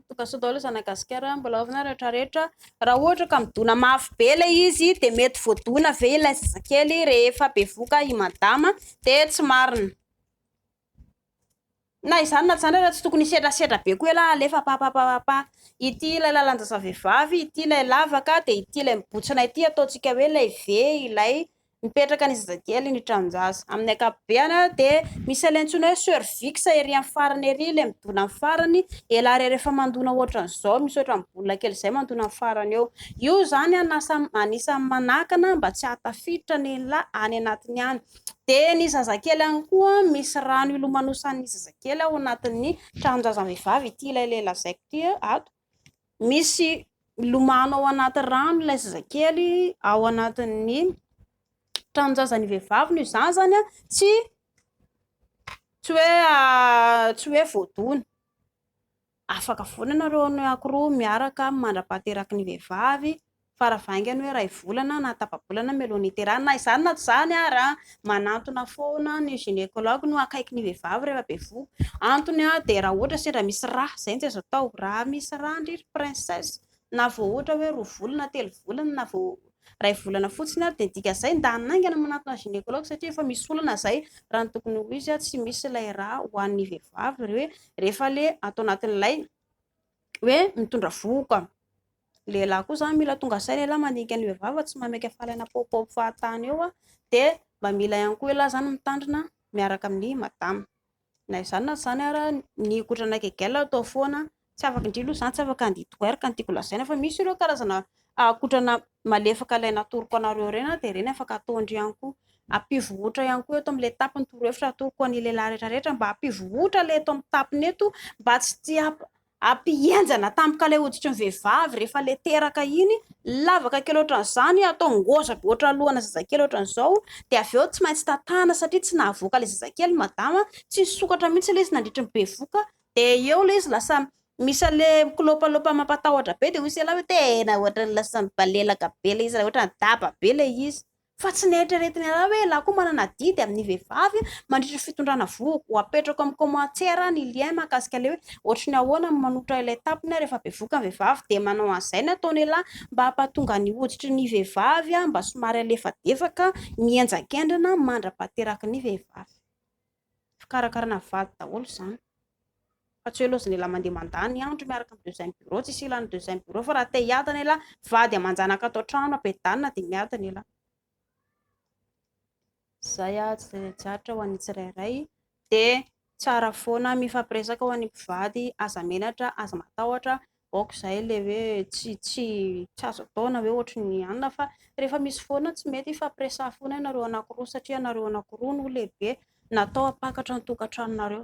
Tokantsoa daholo izany Madagasikara, mbola ao finaritra rehetra rehetra. Raha ohatra ka midona mafy be ilay izy dia mety voadona ve ilay zazakely rehefa bevoka i madama dia tsy marina. Na izany na izany ary tsy tokony hisedrasedra be koa ialahy alefa papapapapa. Ity ilay lalan-jazavehivavy, ity ilay lavaka dia ity ilay mibontsina ity ataontsika hoe ilay ve ilay. Mipetraka any zazakely ny tranon-jaza. Amin'ny ankapobeany dia misy ilay antsoina hoe cervix ery amin'ny farany ery, ilay midona amin'ny farany. Ela ary rehefa mandona ohatran'izao, misy ohatran'ny bola kely izay mandona amin'ny farany eo. Io izany anisan'ny manakana mba tsy hahatafiditra ny la any anatiny any. Dia ny zazakely ihany koa misy rano ilomanosan'ny zazakely ao anatin'ny tranon-jazam-behivavy ity ilay lehilahy lazaiko ity ato. misy milomano ao anaty rano ilay zazakely ao anatin'ny tranon-jazan'ny vehivavy no izany izany an, tsy tsy hoe tsy hoe voadona, afaka foana ianareo ankory roa miaraka mandra-pahateraky ny vehivavy Fara vaingany hoe iray volana na tapa-bolana no mialohan'ny hiterahana. Na izany na tsy izany ary, manantona foana ny gynécologue no akaiky ny vehivavy rehefa bevohoka. Antony dia raha ohatra sendra misy rà, izay no tsy azo atao. Raha misy rà ndry ry princesse, na vao ohatra hoe roa volana, telo volana, na vao iray volana fotsiny ary dia ny dikan'izay ny dahany naingana manantona gynécologue satria efa misy olana izay. Raha ny tokony ho izy, tsy misy ilay rà ho an'ny vehivavy hoe rehefa le ato anatin'ilay hoe mitondra vohoka. lehilahy koa zany mila tonga saina elah mandinika ny vehivavy tsy mameky afalaina paopaopy fahatany eo dia mba mila ihany koa elah zany mitandrina miaraka amin'ny madama na izany na izany ara ny kotrana gegail atao foana tsy afaka indrindra aloha izany tsy afaka handihy toer ka ny tiako lazaina fa misy ireo karazana kotrana malefaka ilay natoroko anareo ireny dia ireny afaka ataondry ihany koa ampivohotra ihany koa eto amin'ilay tapiny torohevitra atoroko an'ny lehilahy rehetra rehetra mba hampivohotra ilay eto amin'ny tapiny eto mba tsy tia Ampihenjana tampoka ilay hoditry ny vehivavy rehefa ilay teraka iny, lavaka kely ohatran'izany, atao ngôza be ohatran'ny lohana zazakely ohatran'izao, dia avy eo tsy maintsy tatahana satria tsy nahavoaka ilay zazakely madama, tsy nisokatra mihitsy ilay izy nandritry ny bevoka, dia eo ilay izy lasa misy an'ilay mikilôpalôpa mampatahotra be, dia hoy isika lahy hoe tena ohatran'ny lasa mibalelaka be ilay izy raha ohatran'ny daba be ilay izy. Fa tsy neritreretin'i Allah hoe Allah koa manana adidy amin'ny vehivavy mandritra ny fitondrana vohoka. Ho apetrako amin'ny commentaire ny lien mahakasika ilay hoe ohatry ny ahoana ny manotra ilay tapony rehefa bevoka ny vehivavy dia manao an'izay ny ataon'i Allah mba hampatonga ny hoditry ny vehivavy mba somary halefadefaka mihenjakendrana mandra-pahateraky ny vehivavy. Fikarakarana vady daholo izany. Fa tsy hoe loza ny elah mandeha mandà ny andro miaraka amin'ny deuxième bureau, tsisy ilàn'ny deuxième bureau fa raha te hiadana elah, vady aman-janaka ato an-trano, ampedana dia miadana elah. Izay ah, tsy zatra ho an'ny tsirairay. Dia tsara foana mifampiresaka ho an'ny mpivady, aza menatra, aza matahotra ok zay ilay hoe tsy tsy tsy azo atao na hoe ohatry ny anona fa rehefa misy foana tsy mety hifampiresaha foana ianareo anakiroa satria ianareo anakiroa no lehibe natao hampakatra ny tokantranonareo.